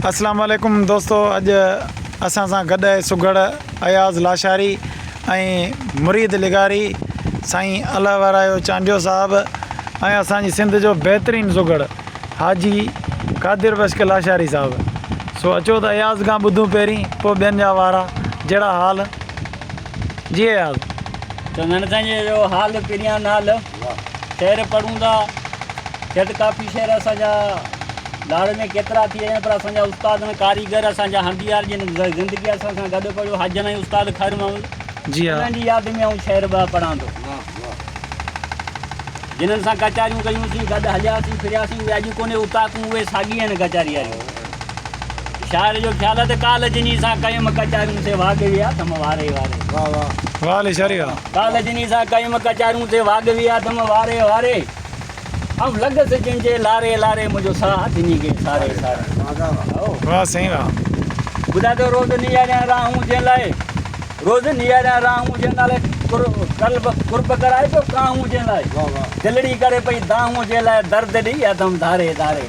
اسلام عليڪم دوستو اڄ اسان سان گڏ آهي سگهڙ اياز لاشاري ۽ مريد لغاري سائين الله وارايو چانڊيو صاحب ۽ اسان جي سنڌ جو بهترين سگهڙ حاجي قادر بشڪ لاشاري صاحب سو اچو ته اياز کان ٻڌون پهرين پوء ٻين جا وارا جهڙا حال جي اياز چندن سائين جو حال پريان نال شعر پڙهون ٿا شايد ڪافي شعر اسان جا لاڙ ۾ ڪيترا ٿي ويا پر اسان جا استاد ۽ ڪاريگر اسان جا هنڌيار جن زندگي اسان سان گڏ پڙهيو حاجن ۽ استاد خير محمد جي ها انهن جي ياد ۾ آئون شعر ٻه پڙهان ٿو جنن سان ڪچهريون ڪيون سين گڏ هلياسين ڦرياسين اهي اڄ ڪونهي اتاهڪون اهي ساڳي آهن ڪچهري واريون شاعر جو خيال آ ته ڪالهه جني سان ڪيم ڪچاريون سي واڳوي آٿم واري واري. واھ واھ واھ علي شاري واھ. ڪالهه جني سان ڪيم ڪچاريون سي واڳوي آٿم واري واري. آئون لڳس جن جي لاري لاري منهنجو ساھ ٿڃي گئي ساري ساري. واھ سائين واھ. ٻڌاء ته روز نياريان راهون جنهن لاء روز نياريان راهون جنهن لاء قلب قرب ڪرائي پيو ڪاهون جنهن لاء دلڙي ڪري پئي دانهون جنهن لاء درد ڏئي آٿم ڌاري ڌاري.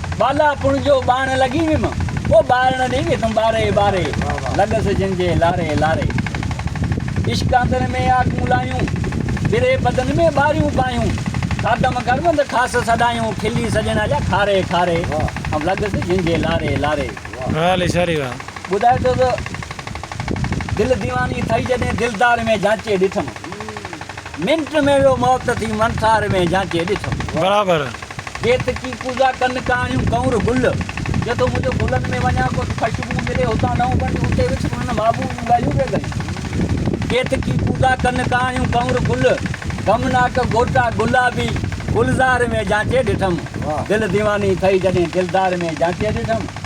ٻالاپڻ جو ٻارڻ لڳي ويم، او ٻارڻ ڙي ويسم ٻاري ٻاري، لڳس جن جي لاري لاري. عشق آندر ۾ آڪون لايون، ٻري بدن ۾ ٻاريون پايون، خادم گرم ته خاص سڏايون، کلي سڄڻ جا کاري کاري، ام لڳس جن جي لاري لاري. ٻڌائي ٿو ته دل ديواني ٿئي جڏهن دلدار ۾ جانچي ڏٺم. منٽ ۾ ويو موت ٿي منسار ۾ جانچي ڏسم. برابر. بيت ڪي ڪوزا ڪن ڪاڻيون ڪنور گل. جو تو منهنجو گلن ۾ وڃان ڪو ته خوشبو ملي هتان نئون بنڊ اتي وڇ انهن محبوب جون ڳالهيون پئي ڳايون. بيت ڪي ڪوزا ڪن ڪاڻيون ڪنور گل. غمناڪ گهوٽا گلابي گلزار ۾ جانچي ڏٺم. دل ديواني ٿئي جڏهن دلدار ۾ جانچي ڏٺم.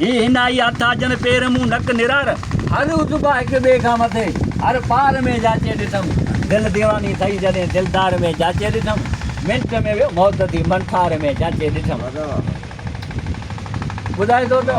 هي هن آئي آٿا جن پير مون نڪ نرار. هر عضبا هڪ ٻئي کان مٿي هر پار ۾ جاچي ڏٺم. دل ديواني ٿئي جڏهن دلدار ۾ جاچي ڏٺم. منٽ ۾ ويو موت ٿي من ٺار ۾ جاچي ڏٺم. ٻڌائي ٿو ته.